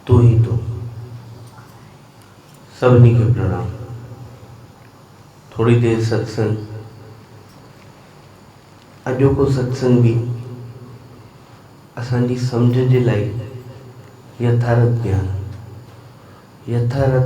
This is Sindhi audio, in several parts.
تون ئي تون سڀني کي پرڻام ٿوري دير ستسنگ اڄوڪو ستسنگ به اسان جي سمجهه جي لاء يٿارٿ گيان يٿارٿ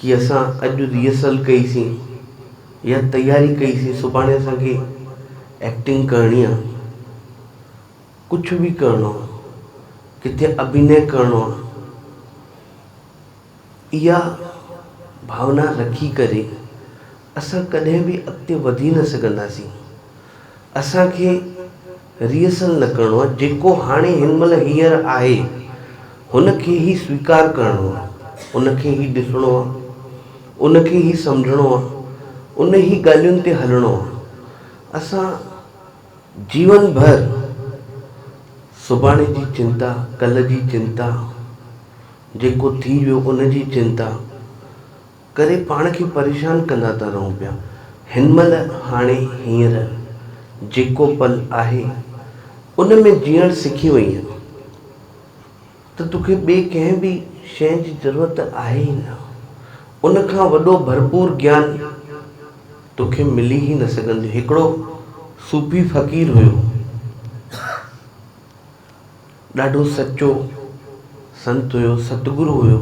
ڪي اسان اڄ ريهرسل ڪئي سين يا تياري ڪئي سين سڀاڻي اسان کي ايڪٽنگ ڪرڻي آ ڪجھ به ڪرڻو آ ڪٿي اڀينئي ڪرڻو آ اها ڀاونا رکي ڪري اسان ڪڏهن به اڳتي وڌي نه سگهنداسين. اسان کي ريهرسل نه ڪرڻو آهي، جيڪو هاڻي هن مهل هينئر آهي، هن کي ئي سويڪار ڪرڻو آهي، ان کي ئي ڏسڻو آهي، ان کي ئي سمجهڻو آهي، ان ئي ڳالهين تي هلڻو آهي. اسان جيون ڀر سڀاڻي جي چنتا، ڪلهه جي چنتا، جيڪو ٿي ويو ان جي چنتا، ڪري پاڻ کي پريشان ڪندا ٿا رهون پيا. هن مهل هاڻي هينئر جيڪو پل آهي ان ۾ جيئڻ سکي وئين ته توکي ٻي ڪنهن به شيء جي ضرورت آهي ئي نه. ان کان وڏو ڀرپور گيان توکي ملي ئي نه سگهندو. هڪڙو صوفي فقير هيو. ڏاڍو سچو سنت هيو ستگرو هيو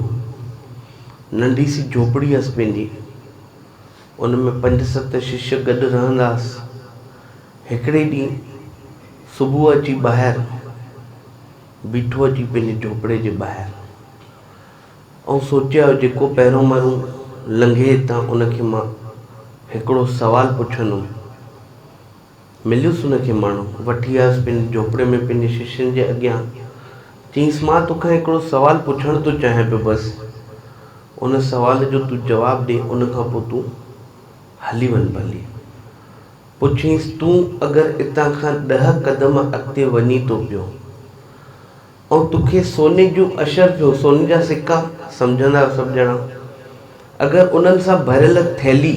ننڍي سي جهوپڙي هيس پنهنجي ان ۾ پنج ست ششيه گڏ رهندا هئس هڪڙي ڏينهن صبح اچي ٻاهر بيٺو اچي پنهنجي جهوپڙي جي ٻاهر ائون سوچيو جيڪو پهرون مهرون لنگهي هتان ان کي مان هڪڙو سوال پڇندم مليس ان کي ماڻهو. وٺي آيس پنهنجي جهوپڙي ۾ پنهنجي ششين جي اڳيان. چيس، مان تو کان هڪڙو سوال پڇڻ ٿو چاهيان پيو بس. ان سوال جو تون جواب ڏي ان کان پوء تون هلي وڃ ڀلي. پڇيس، تون اگر اتان کان ڏهه قدم اڳتي وڃي ٿو پيو ۽ تو کي سوني جون اشرفيون، سوني جا سڪا، سمجهندا آهيو سڀ ڄڻا، اگر انهن سان ڀريل ٿيلهي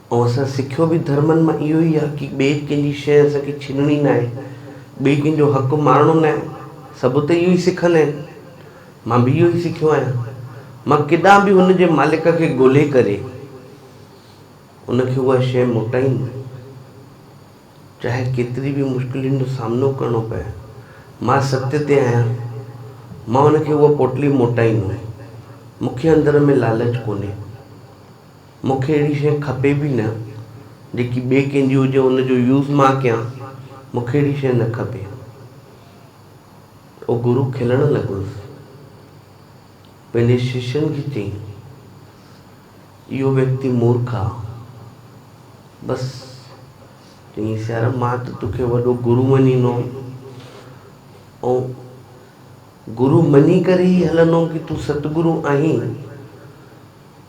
۽ اسان سکيو به ڌرمن مان اهو ئي آهي ڪي ٻئي ڪنهن جي شيء اسان کي ڇينڻي ناهي، ٻئي ڪنهن جو حق مارڻو ناهي، سڀ ته اهو ئي سکندا آهن، مان به اهو ئي سکيو آهيان، مان ڪيڏانهن به هن جي مالڪ کي ڳولهي ڪري ان کي اها شيء موٽائيندم، چاهي ڪيتري به مشڪلين جو سامنو ڪرڻو پئي، مان ستيء تي آهيان، مان هن کي اها پوٽلي موٽائيندم، مون کي اندر ۾ لالچ ڪونهي. مون کي اهڙي شيء کپي به نه، جيڪي ٻئي ڪنهن جي هجي ان جو يوز مان ڪيان، مون کي اهڙي شيء نه کپي. او گرو کلڻ لڳس. پنهنجي ششين کي چيائين، اهو ويڪتي مورک آ. بس، چيائينس يار مان ته توکي وڏو گرو مڃيندو هوم ۽ گرو مڃي ڪري ئي هلندو هوم ڪي تون ستگرو آهين.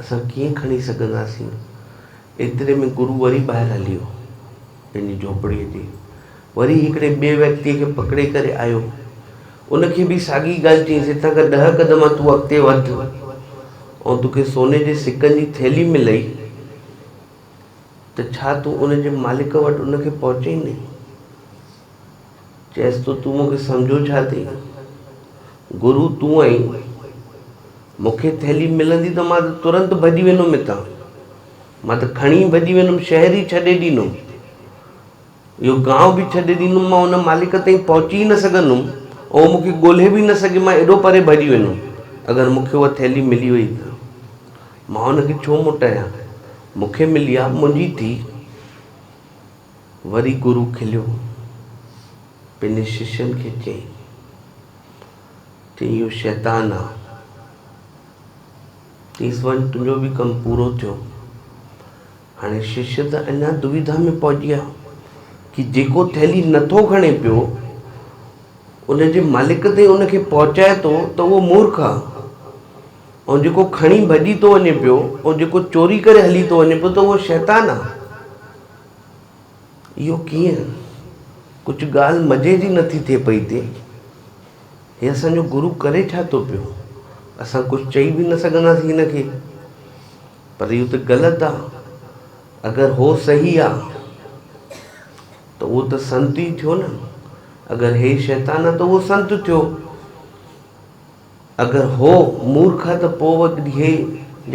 اسان ڪيئن کڻي سگهنداسين؟ ايتري ۾ گرو وري ٻاهر هلي ويو. پنهنجي جهوپڙيء تي وري هڪڙي ٻئي ويڪتيء کي پڪڙي ڪري آيو. ان کي به ساڳي ڳالهه چيائينس، هتان کان ڏهه قدم تون اڳتي وڌ، آئون توکي سوني جي سڪن جي ٿيلهي ملئي ته ڇا تون ان جي مالڪ وٽ ان کي پهچائيندين؟ چيس ٿو تون مونکي سمجهو ڇا ٿي؟ گرو تون آهين، مونکي ٿيلهي ملندي ته مان ته ترنت ڀڄي ويندم هتان، مان ته کڻي ڀڄي ويندم، شهر ئي ڇڏي ڏيندم، اهو گانء به ڇڏي ڏيندم، مان ان مالڪ تائين پهچي ئي نه سگهندم، اهو مونکي ڳولهي به نه سگهي، مان ايڏو پري ڀڄي ويندم، اگر مونکي اها ٿيلهي ملي وئي ته مان ان کي ڇو موٽايان، مونکي ملي آ، منهنجي ٿي. وري گرو کليو پنهنجي ششين کي چيائين ته اهو شيطان آ. چيس وڃ تنهنجو به ڪم پورو ٿيو. هاڻي ششي ته اڃا دويڌا ۾ پهجي آ ڪي جيڪو ٿيلي نٿو کڻي پيو ان جي مالڪ تائين ان کي پهچائي ٿو ته اهو مورک آ ۽ جيڪو کڻي ڀڄي ٿو وڃي پيو ۽ جيڪو چوري ڪري هلي ٿو وڃي پيو ته اهو شيطان آ. اهو ڪيئن؟ ڪجهه ڳالهه مزي جي نٿي ٿئي پئي تي؟ هي اسان جو گرو ڪري ڇا ٿو پيو؟ اسان ڪجهه چئي به نه سگهنداسين هن کي. پر اهو ته غلط آ. اگر هو صحيح آ ته اهو ته سنت ئي ٿيو نه. اگر هي شيطان آ ته اهو سنت ٿيو. اگر هو مورک ها ته پوء ڏيهي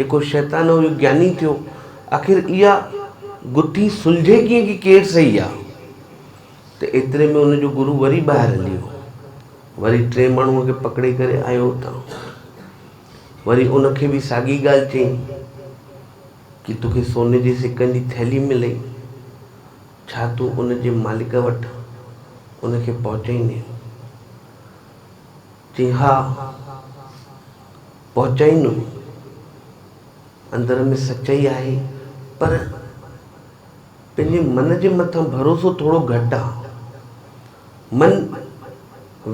جيڪو شيطان هو اهو گياني ٿيو. آخر اها گٿي سلجهي ڪيئن ڪي ڪير صحيح آ؟ ته ايتري ۾ ان جو گرو وري ٻاهر هلي ويو. وري ٽئين ماڻهوء کي پڪڙي ڪري آيو اتان. وري ان کي به ساڳي ڳالهه چيائين ڪي توکي سوني جي سڪن جي ٿيلهي ملئي ڇا تون ان جي مالڪ وٽ ان کي پهچائيندين؟ چيائين، ها، پهچائين نه. اندر ۾ سچائي آهي، پر پنهنجي من جي مٿان ڀروسو ٿورو گهٽ آ. من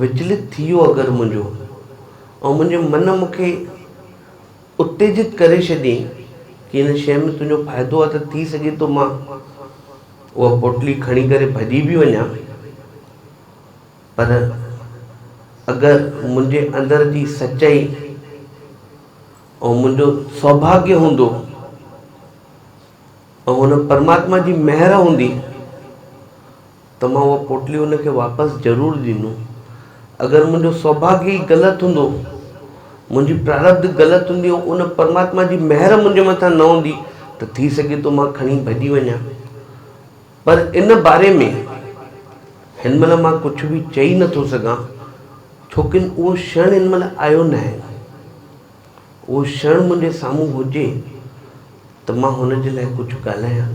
وچلت ٿي ويو اگر منهنجو، ۽ منهنجي من مون کي اتيجت ڪري ڇڏيئين ڪي هن شيء ۾ تنهنجو فائدو آ ته ٿي سگهي ٿو مان اها پوٽلي کڻي ڪري ڀڄي به وڃان. پر اگر منهنجي اندر جي سچائي ۽ منهنجو سوڀاگيه هوندو ۽ هن پرماتما جي مهر هوندي ته مان اها پوٽلي هن کي واپس ضرور ڏيندو اگر منهنجو سوڀاگيه ئي غلط هوندو منهنجي پراربڌ غلط هوندي ۽ ان پرماتما جي مهر منهنجي مٿان نه هوندي ته ٿي سگهي ٿو مان کڻي ڀڄي وڃان پر ان باري ۾ هن مهل مان ڪجهه به چئي نه ٿو سگهان، ڇوڪن اهو شڻ هن مهل آيو ناهي. اهو شڻ منهنجي سامهون هجي ته مان هن جي لاء ڪجهه ڳالهايان.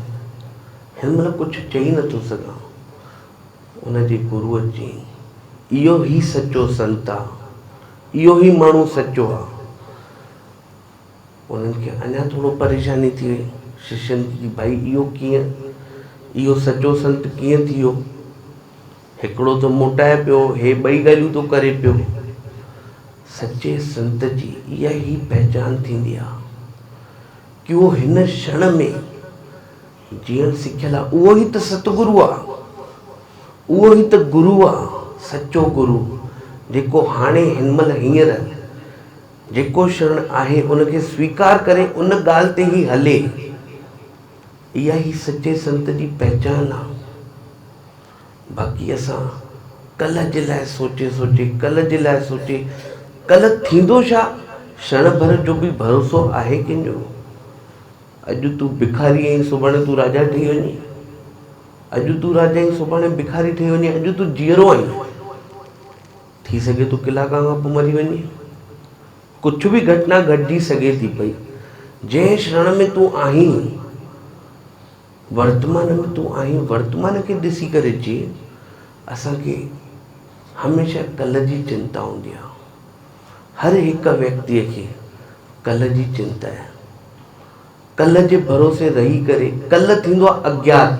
هن مهل ڪجهه چئي نه ٿو سگهان. ان جي گروء چيائين، اهو ئي سچو سنت آ. اهو ئي ماڻهو سچو آ. انهن کي اڃا ٿورو پريشاني ٿي وئي. ششين کي ڪي ڀائي اهو ڪيئن؟ اهو سچو سنت ڪيئن ٿي ويو؟ هڪڙو ٿو موٽائي پيو، هي ٻئي ڳالهيون ٿو ڪري پيو. سچي سنت جي اها ئي پهچان ٿيندي آ. ڪيو هن شڻ ۾ جيئڻ سکيل آ، اهو ئي ته ستگرو آ. اهو ئي ته گرو آ، سچو گرو، جيڪو هاڻي هن مهل هينئر، جيڪو شرڻ آهي ان کي سويڪار ڪري ان ڳالهه تي ئي هلي، اها ئي سچي سنت جي پهچان آ. باقي اسان ڪلهه جي لاء سوچي سوچي، ڪلهه جي لاء سوچي، ڪلهه ٿيندو ڇا؟ شڻ ڀر جو به ڀروسو آهي ڪنهن جو؟ اڄ تون ڀکاري اهين سڀاڻي تون راجا ٺهي وڃين، اڄ تون راجا اهين سڀاڻي ڀکاري ٺهي وڃين، اڄ تون جيئرو آهين. ٿي سگهي ٿو ڪلاڪ کان پوء مري وڃي. ڪجهه به گهٽنا گهٽجي سگهي ٿي پئي. جنهن شڻ ۾ تون آهين، ورتمان ۾ تون آهين، ورتمان کي ڏسي ڪري جي. اسان کي هميشه ڪلهه جي چنتا هوندي آهي. هر هڪ ويڪتيء کي ڪلهه جي چنتا آهي. ڪلهه جي ڀروسي رهي ڪري، ڪلهه ٿيندو آهي اگيات.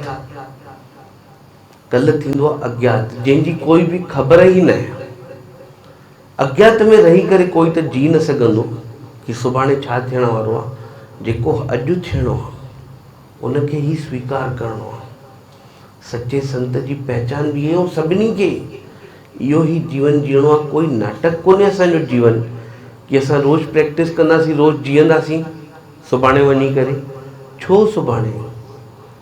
ڪل ٿيندو آ اگيات، جنهن جي ڪوئي به خبر ئي نه آهي. اگيات ۾ رهي ڪري ڪوئي ته جي نه سگهندو ڪي سڀاڻي ڇا ٿيڻ وارو آ، جيڪو اڄ ٿيڻو آ، ان کي ئي سويڪار ڪرڻو آ. سچي سنت جي پهچان به اهو سڀني کي اهو ئي جيون جيئڻو آ، ڪوئي ناٽڪ ڪونهي اسان جو جيون ڪي اسان روز پريڪٽس ڪنداسين، روز جيئنداسين سڀاڻي وڃي ڪري ڇو سڀاڻي؟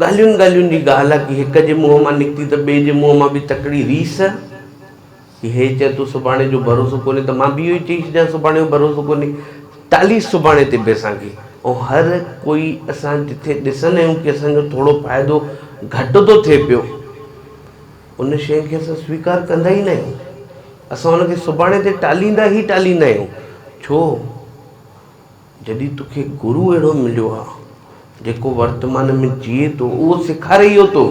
ڳالهين ڳالهين جي ڳالهه آ ڪي هڪ جي منهن مان نڪتي ته ٻئي جي منهن مان به تڪڙي ريس ڪي هي چئي تو سڀاڻي جو ڀروسو ڪونهي ته مان به اهو ئي چئي ڇڏيان سڀاڻي جو ڀروسو ڪونهي ٽاليس سڀاڻي تي به اسان کي ۽ هر ڪوئي اسان جٿي ڏسندا آهيون ڪي اسان جو ٿورو فائدو گهٽ ٿو ٿئي پيو ان شئي کي اسان سويڪار ڪندا ئي ناهيون اسان ان کي سڀاڻي تي ٽاليندا ئي ٽاليندا آهيون ڇو جڏهن توکي گرو اهڙو مليو آ جيڪو ورتمان ۾ جيئي ٿو اهو سيکاري اهو ٿو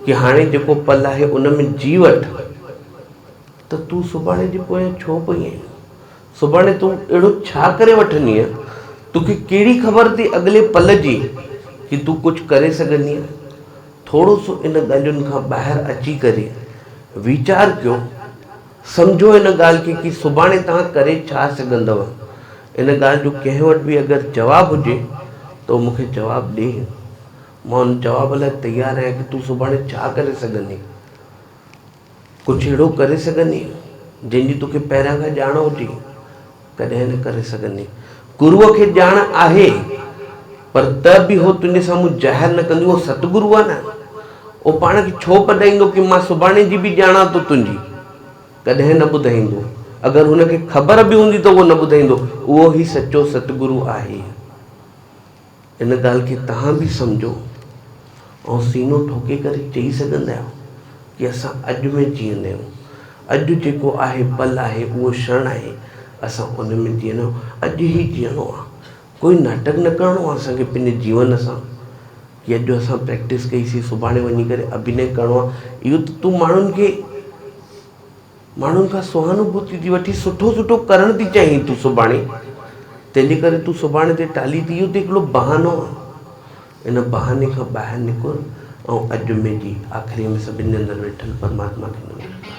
ڪي هاڻي جيڪو پل آهي ان ۾ جي وٺ ته تون سڀاڻي جي پويان ڇو پئي آهين سڀاڻي تون اهڙو ڇا ڪري وٺندينء توکي ڪهڙي خبر ٿي اڳلي پل جي ڪي تون ڪجهه ڪري سگهندينء ٿورو سو ان ڳالهين کان ٻاهر اچي ڪري ويچار ڪيو سمجهو ان ڳالهه کي ڪي سڀاڻي توهان ڪري ڇا سگهندؤ؟ ان ڳالهه جو ڪنهن وٽ به اگر جواب هجي ته مون کي جواب ڏي. مان ان جواب لاء تيار آهيان ڪي تون سڀاڻي ڇا ڪري سگهندين؟ ڪجهه اهڙو ڪري سگهندين جنهن جي توکي پهريان کان ڄاڻ هجي. ڪڏهن نه ڪري سگهندين. گروء کي ڄاڻ آهي، پر ته به هو تنهنجي سامهون ظاهر نه ڪندين. اهو ست گرو آهي نه، اهو پاڻ کي ڇو ٻڌائيندو ڪي مان سڀاڻي جي به ڄاڻان ٿو تنهنجي؟ ڪڏهن نه ٻڌائيندو. اگر هن کي خبر به هوندي ته اهو نه ٻڌائيندو. اهو ئي سچو ست گرو آهي. ان ڳالهه کي توهان به سمجهو ۽ سينو ٺوڪي ڪري چئي سگهندا آهيو ڪي اسان اڄ ۾ جيئندا آهيون. اڄ جيڪو آهي پل آهي اهو شڻ آهي اسان ان ۾ جيئندا آهيون اڄ ئي جيئڻو آهي ڪوئي ناٽڪ نه ڪرڻو آهي اسان کي پنهنجي جيون سان ڪي اڄ اسان پريڪٽس ڪئي سي سڀاڻي وڃي ڪري ابهنئي ڪرڻو آهي اهو ته تون ماڻهن کي ماڻهن کان سهانوڀوتي ٿي وٺين، سٺو سٺو ڪرڻ ٿي چاهين تون سڀاڻي، تنهن جي ڪري تون سڀاڻي تي ٽالهي ٿي، اهو ته هڪڙو بهانو آهي. ان بهاني کان ٻاهر نڪر ۽ اڄ جمعي جي آخريء ۾ سڀن جي اندر ويٺل پرماتما کي نمن ڪر.